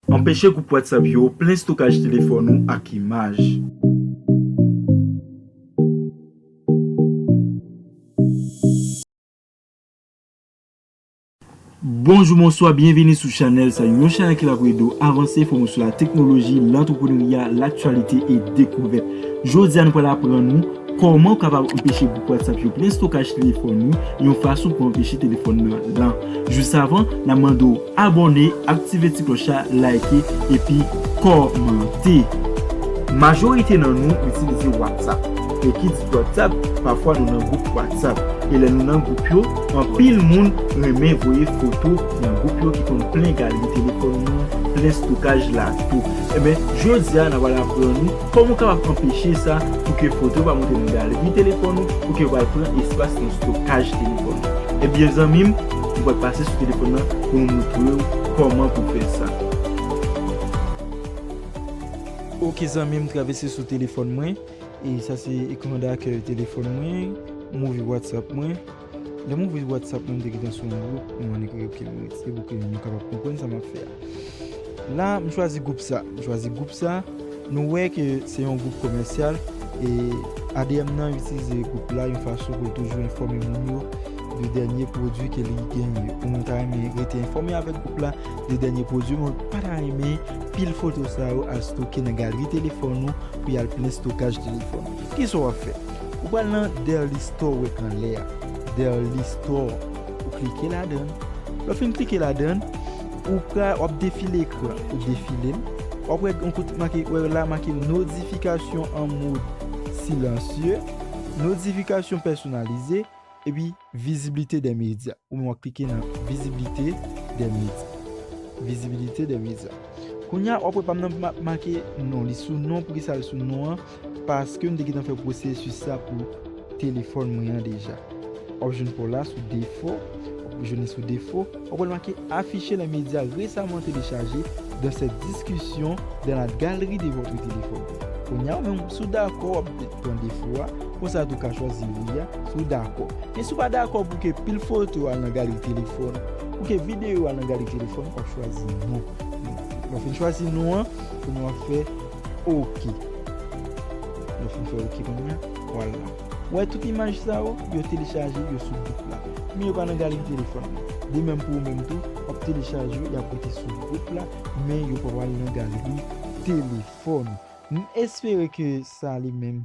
Anpeche gwoup WhatsApp yo plen stokaj telefòn ou ak imaj. Bonjou bonswa byenvini sou chanèl sa yon chanèl ki la pou ede w avanse fòme w sou la teknoloji lantreprenarya laktyalite e dekouvèt jodi a nou pral aprann ou kòman ou kapab anpeche gwoup WhatsApp yo plen stokaj telefòn ou yon fason pou anpeche telefòn nan lan jis avan na mande w Abòne, aktive ti klòch la, like epi kòmante. Majorite nan nou itilize WhatsApp e ki di WhatsApp pafwa nou nan gwoup WhatsApp e lè nou nan gwoup yo anpil moun renmen voye foto nan gwoup yo ki konn plen galeri telefòn nou, plen stokaj la tou. Enben jodi a n a pral aprann ou kòman ou kapab anpeche sa pou ke foto yo pa monte nan galeri telefòn ou pou ke yo pa al pran espas nan stokaj telefòn ou. Ebyen zanmi m. Ou pral pase sou telefòn nan pou nou moutrew kòman pou fè sa. Ok zanmi m travese sou telefòn mwen e sa se ekran dakèy telefòn mwen m ouvri whatsapp mwen lèm ouvri whatsapp mwen m te gentan sou yon gwoup m annik ok m retire pou ke nou kapab konprann sa map fè a. La m chwazi gwoup sa, m chwazi gwoup sa, nou wè ke se yon gwoup komèsyal e adm nan itilize gwoup la yon fason pou l toujou enfòme moun yo de dènye pwodui ke li genyen yo. Pou moun ta renmen rete enfòme avèk gwoup la de dènye pwodui, men w pa ta renmen pil foto sa yo al stoke nan galri telefòn ou pou y al plen stokaj telefòn ou. Ki sa w ap fè? Ou pral nan Dairly Store ou wè anlè a, Dairly Store, ou klike ladan l. Lè w fin klike ladan l, Ou pra wap defile ekran ou defilem wap wè gon kout make wè la make nodifikasyon an mod silansye nodifikasyon pèsonalize epi viziblite dè medya ou menm wap klike nan viziblite dè medya vizibilite dè medya kounya wap wè pam nan make non li sou non poukisa li sou non an Paske m te gentan fè pwosesis sa pou telefòn mwen an deja. Wap jwenn pa w la sou Defo, wap jwenn li sou Defo, wap wè l make Afficher les médias récemment téléchargés dans cette discussion dans la galerie de votre téléphone. Kounya ou menm si w dakò wap pran Defo a, konsa tou ka chwazi Wi a si w dakò. Men si w pa dakò pou ke pil foto al nan galeri telefòn, pou ke videyo al nan galeri telefòn, wap chwazi Non. Lè w fin chwazi Non an, kounya wap fè. ok lèw fin fè ok kounya wal nan wè tout imaj sa yo yo telechaje yo sou gwoup la men yo pa nan galeri telefòn nan de menm pou ou menm tou wap telechaje yo yap rete sou gwoup la men yo pa pral nan galeri telefòn nou m espere ke sa ale menm.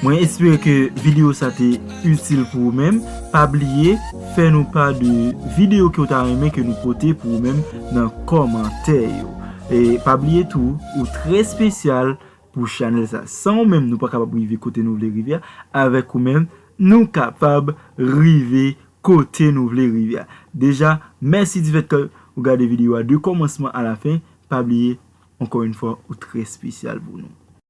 Mwen espere ke video sa te itil pou ou menm, pa bliye fè nou pa de video ke ou ta renmen ke nou pote pou ou menm nan komantè yo. E pa bliye tou ou trè spesyal pou chanèl sa. San ou menm nou pa kapab rive kote nou vle rive a, avèk ou menm nou kapab rive kote nou vle rive a. Deja mèsi di fèt ke ou gade video a de komansman a la fen, pa bliye ankò yon fwa ou trè spesyal pou nou.